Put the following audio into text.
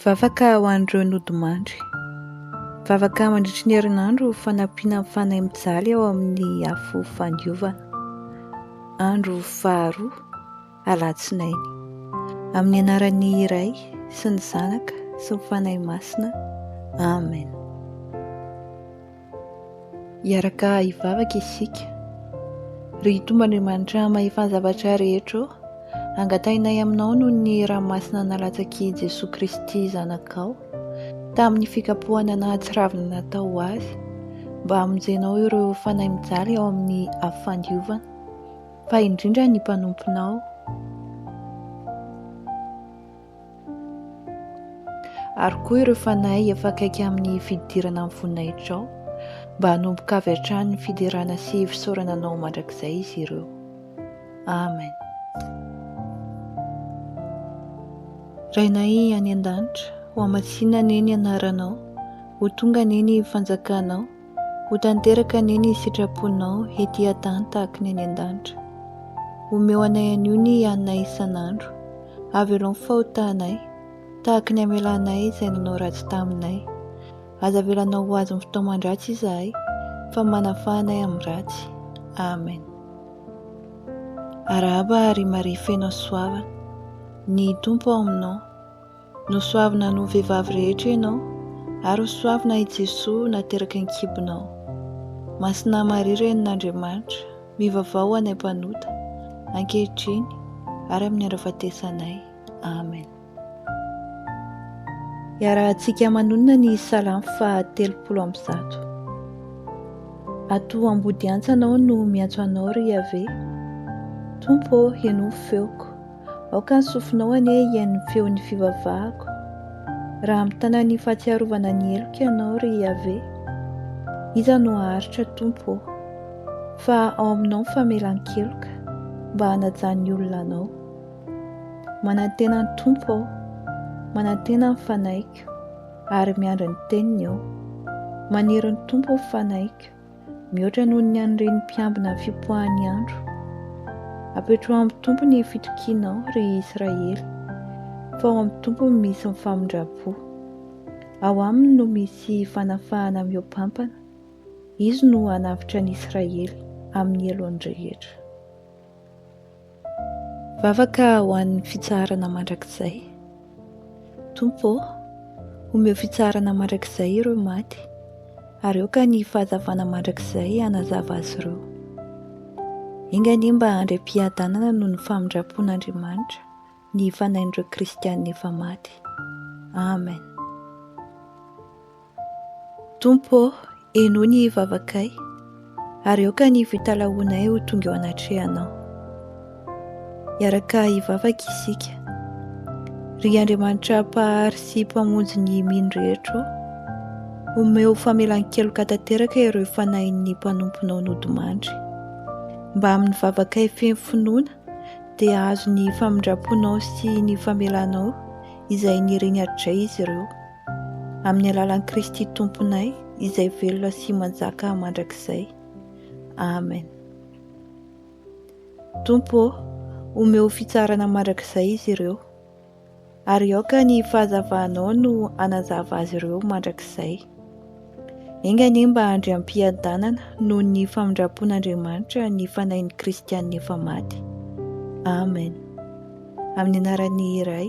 Vavaka ho an'ireo nodimandry. Vavaka mandritry ny herinandro ho fanampiana ny Fanahy mijaly ao amin'ny afo fandiovana. Andro faharoa, Alatsinainy. Amin'ny anaran'ny Ray sy ny Zanaka sy ny Fanahy Masina. Amen. Hiaraka hivavaka isika. Ry Tompo Andriamanitra Mahefa ny zavatra rehetra ô, angatahinay Aminao noho ny ranomasina nalatsaky Jesoa Kristy Zanakao, tamin'ny fikapohana nahatsiravina natao ho Azy, mba hamonjenao ireo fanahy mijaly ao amin'ny afo fandiovana, fa indrindra ny mpanomponao, ary koa ireo fanahy efa akaiky amin'ny fidirana amin'ny voninahitrao, mba hanomboka avy hatrany ny fiderana sy fisaorana Anao mandrakizay izy ireo. Amen. Rainay any an-danitra, hohamatsiana anie ny Anaranao, ho tonga anie ny fanjakanao. Ho tanteraka anie ny sitraponao ety an-tany tahaka ny any an-danitra. Omeo anay anio ny haninay isan'andro. Avelao ny fahotanay, tahaka ny hamelanay izay nanao ratsy taminay. Aza avelanao ho azon'ny fitaoman-dratsy izahay, fa manafà anay amin'ny ratsy. Amen. Arahaba ry Maria feno hasoavana. Ny Tompo ao aminao. Nosoavina noho vehivavy rehetra ianao, ary ho soavina i Jesoa nateraka an-kibonao. Masina Maria Renin'Andriamanitra, mivavaha ho anay mpanota, ankehitriny ary amin'ny andro ahafatesanay. Amen. Iarahantsika manonona ny Salamo faha telopolo amby zato. Ato ambodiantsa anao no miantso anao ry Iaveh, Tompo ô henoy feoko. Aoka ny sofinao anie hihaino ny feon'ny fivavahako, raha mitana ny fahatsiarovana ny heloka ianao, ry Iaveh. Iza no haharitra, Tompo ô? Fa ao aminao ny famelan-keloka, mba hanaja ny olona anao. Manantena ny Tompo aho, manantena ny fanahiko, ary miandry ny teniny aho. Maniry ny Tompo ny fanahiko. mihoatra noho ny an'ireny mpiambina fipoahan'ny andro. Apetraho amin'ny Tompo ny fitokianao, ry Israely, fa ao amin'ny Tompo no misy ny famindram-po. Ao Aminy no misy fanafahana mihoa-pampana, Izy no hanavotra an'i Israely amin'ny heloany rehetra. Vavaka ho an'ny fitsaharana mandrakizay. Tompo ô, omeo fitsaharana mandrakizay ireo maty, ary aoka ny fahazavana mandrakizay hanazava azy ireo. Enga anie mba handray am-piadanana noho ny famindram-pon'Andriamanitra ny fanahin'ireo kristiana efa maty. Amen. Tompo ô, henoy ny vavakay, ary aoka ny fitalahoanay ho tonga eo anatrehanao. Hiaraka hivavaka isika. Ry Andriamanitra Mpahary sy Mpamonjy ny mino rehetra ô, omeo famelan-keloka tanteraka ireo fanahin'ny mpanomponao nodimandry. Mba amin'ny vavakay feno finoana dia hahazo ny famindram-ponao sy ny famelanao izay niriny hatrizay izy ireo. Amin'ny alalan'i Kristy Tomponay izay velona sy manjaka mandrakizay. Amen. Tompo ô, omeo fitsarana mandrakizay izy ireo, ary aoka ny fahazavanao no hanazava azy ireo mandrakizay. Enga anie mba handry am-piadanana noho ny famindram-pon'Andriamanitra ny fanahin'ny Kristianina efa maty. Amen. Amin'ny anaran'ny Ray,